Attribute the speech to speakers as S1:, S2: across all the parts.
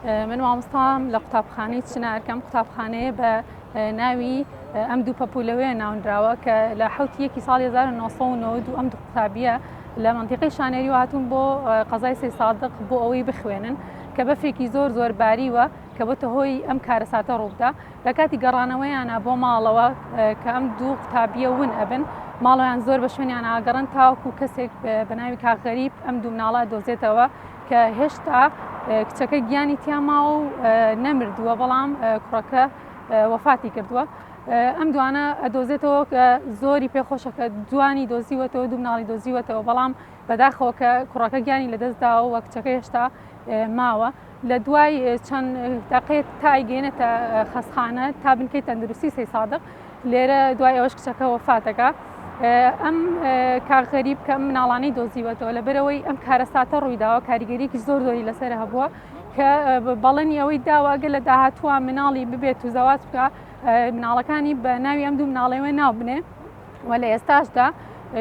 S1: من مامۆستام لە قوتابخانەی چنار کەم قوتابخانەیە بە ناوی ئەم دوو پەپولەوەیە ناونراوە کە لە حوتی یەکی ساڵی 1992 ئەم دوو قوتابیە لە منتیقی شانێری هاتوون بۆ قەزای سێ سادق بۆ ئەوەی بخوێنن کە بەفرێکی زۆر زۆر باریوە کە بۆتە هۆی ئەم کارەساتە ڕووبدا لە کاتی گەڕانەوەیانا بۆ ماڵەوە کە ئەم دوو قوتابیە ون ئەبن ماڵۆیان زۆر بە شوێنیان ئاگەڕن تاوەکو کەسێک بە ناوی کاغەریب ئەم دوو مناڵە دۆزێتەوە کە هێشتا کچەکە گیانی تیاماوە و نەمردووە بەڵام کوڕەکە وەفاتی کردووە ئەم دوانە ئەدۆزێتەوە کە زۆری پێخۆشەکە جوانی دۆزیوەتەوە دوو مناڵی دۆزیوەتەوە بەڵام بەداخەوە کە کوڕەکە گیانی لەدەستداوە وە کچەکە هێشتا ماوە لە دوای چەند دەقێت تا ئەیگەێنێتە خەستخانە تا بنکەی تەندروستی سی سادق لێرە دوای ئەوەش کچەکە وەفاتەکە ئەم کارغەریب کە مناڵانی دۆزیوەتەوە لە بەرەوەی ئەم کارەساتە ڕوویداوە کاریگەریکی زۆر زۆری لەسەر هەبووە کە بەڵێنی ئەوەی داواگە لە داهاتوە مناڵی ببێت و زەواز بکە مناڵەکانی بە ناوی ئەم دوو مناڵەوە ناو بنێ و لە ئێستاشدا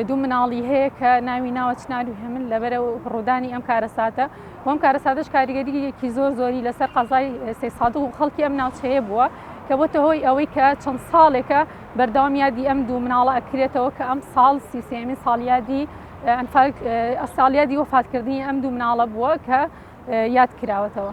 S1: دوو مناڵی هەیە کە ناوی ناوە چنار و هێمن لەبەرە ڕوودانی ئەم کارەساتە وەم کارەساتەش کاریگەریەکی زۆر زۆری لەسەر قەزای سێ سادق و خەڵکی ئەم ناوچەیە بووە کە بۆتە هۆی ئەوەی کە چەند ساڵێکە بەردەوام یادی ئەم دوو مناڵە ئەکرێتەوە کە ئەم ساڵ سیسێمی ساڵیادی ئەنفال ئەساڵیادی وەفاتکردنی ئەم دوو مناڵە بووە کە یاد کراوەتەوە.